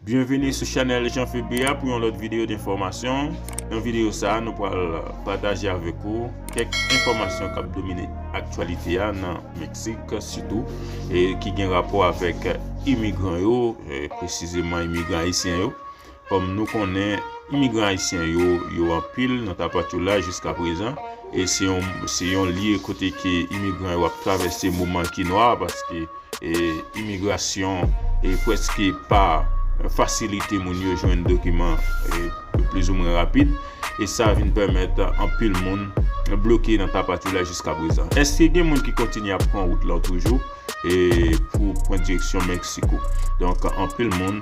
Byenvini sou chanèl Jean Philby a pou yon lòt videyo denfòmasyon. Nan videyo sa a nou pral pataje avèk ou kèk enfòmasyon kap domine aktyalite a nan Meksik sitou ki gen rapò avèk imigran yo presizeman imigran ayisyen yo. Kòm nou konnen imigran ayisyen yo yo anpil nan Tapachula jiskaprezan e se yon lye kote ke imigran yo ap travèse moman ki nwa paske Imigrasyon preske pa fasilite moun yo jwenn dokiman plizoumwen rapid, e sa vin pèmèt anpil moun bloke nan Tapachula jiska prezan. Èske gen moun ki kontinye ap pran wout lan toujou pou pran direksyon Meksiko? Donk, anpil moun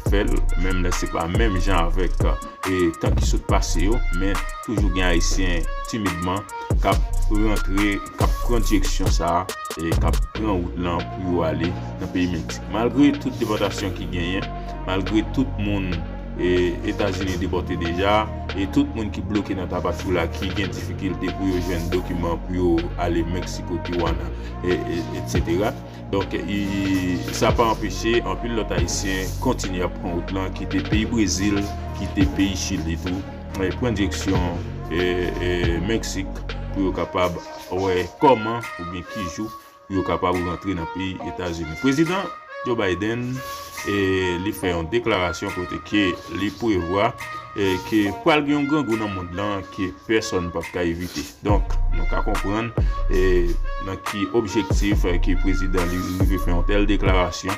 fè l, menm lè se pa menm jan avèk tan ki sot pase yo, men toujou gen Ayisyen timidman k ap rantre. k ap pran direksyon sa a, k ap pran wout lan pou yo ale nan peyi Meksik. Malgre tout depòtasyon ki genyen, malgre tout moun Etazini depòte deja, e tout moun ki bloke nan Tapachula ki gen difikilte pou yo jwenn dokiman pou yo ale Meksiko, Tijuana, etsetera. Donk, sa pa anpeche anpil lòt Ayisyen kontinye ap pran wout lan, kite peyi Brezil, kite peyi Chili tou. Pran direksyon Meksik pou yo kapab wè kòman oubyen ki jou pou yo kapab rantre nan peyi Etazini. Prezidan Joe Biden li fè yon deklarasyon kote ke li prevwa ke pral gen yon grangou nan mond lan ke pèsòn pap ka evite. Donk, nou ka konprann nan ki objektif ke prezidan li rive fè yon tèl deklarasyon.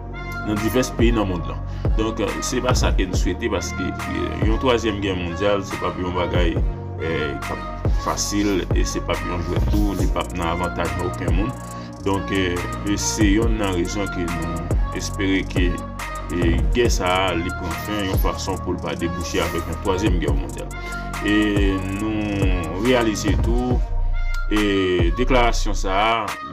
nan divès peyi nan mond lan. Donk, se pa sa ke n swete paske yon twazyèm gè mondyal se pap yon bagay k ap fasil e se pap yon jwèt tou, li pap nan avantaj oken moun. Donk, se yonn nan rezon ke nou espere ke gè sa a li pran fen yon fason pou l pa debouche avèk yon twazyèm gè mondyal. E nou reyalize tou deklarasyon sa a.